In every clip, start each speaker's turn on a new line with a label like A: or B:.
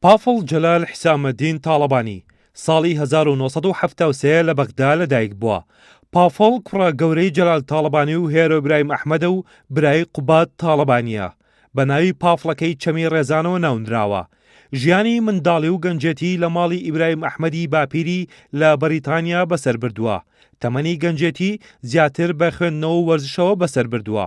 A: پافڵ جەلال حیسامەدین تاڵەبانی ساڵی هەزار و نۆ سەد و حەفتا و سێ لە بەغدا لەدایکبووە. پافڵ کوڕە گەورەی جەلال تاڵەبانی و هێرۆ برایم ئەحمەدە و برای قوباد تاڵەبانییە. بە ناوی پافڵەکەی چەمی ڕێزانەوە ناونراوە. ژیانی منداڵی و گەنجێتیی لە ماڵی ئیبرایم ئەحمەدی باپیری لە بەریتانیا بەسەر بردووە. تەمەنی گەنجێتی زیاتر بە خوێندنەوە و وەرزشەوە بەسەر بردووە.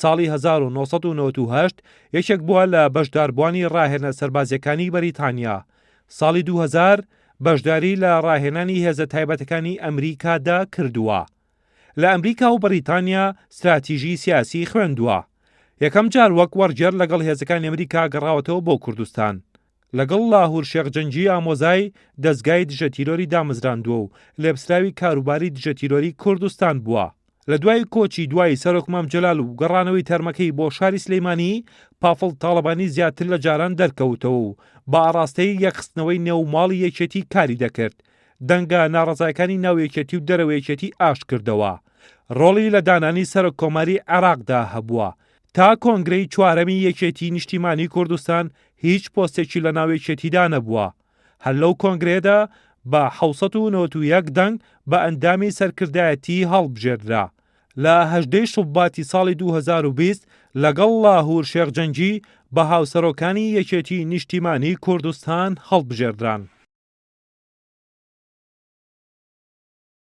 A: ساڵی هەزار و نۆ سەد و نەوەد و هەشت یەکێک بووە لە بەشداربووانی ڕاهێنە سەربازییەکانی بەریتانیا ساڵی دوو هەزار بەشداری لە ڕاهێنانی هێزە تایبەتەکانی ئەمریکادا کردووە لە ئەمریکا و بەریتانیا ستراتیژی سیاسی خوێندووە یەکەم جار وەک وەرگێر لەگەڵ هێزەکانی ئەمریکا گەڕاوەتەوە بۆ کوردستان لەگەڵ لاهور شێخ جەنگی ئامۆزای دەزگای دژە تیرۆری دامەزراندووە و لێپسراوی کاروباری دژە تیرۆری کوردستان بووە. لە دوای کۆچی دوایی سەرۆک مام جەلال و گەڕانەوەی تەرمەکەی بۆ شاری سلەیمانی، پافڵ تاڵەبانی زیاتر لە جاران دەرکەوتەوە و بە ئاڕاستەی یەکخستنەوەی نێو ماڵی یەکێتی کاری دەکرد، دەنگە ناڕەزایەکانی ناو یەکێتی و دەرەوەی یەکێتی ئاشت کردەوە. ڕۆڵی لە دانانی سەرۆک کۆماری عێراقدا هەبووە، تا کۆنگرەی چوارەمی یەکێتی نیشتیمانی کوردستان هیچ پۆستێکی لە ناو یەکێتیدا نەبووە هەر لەو کۆنگرێدا بە 1991 دەنگ بە ئەندامی سەرکردایەتی هەڵبژێردرا لە هەژدەی شوباتی ساڵی 2020 لەگەڵ لاهور شێخ جەنگی بە هاوسەرۆکانی یەکێتی نیشتیمانی کوردستان هەڵبژێردران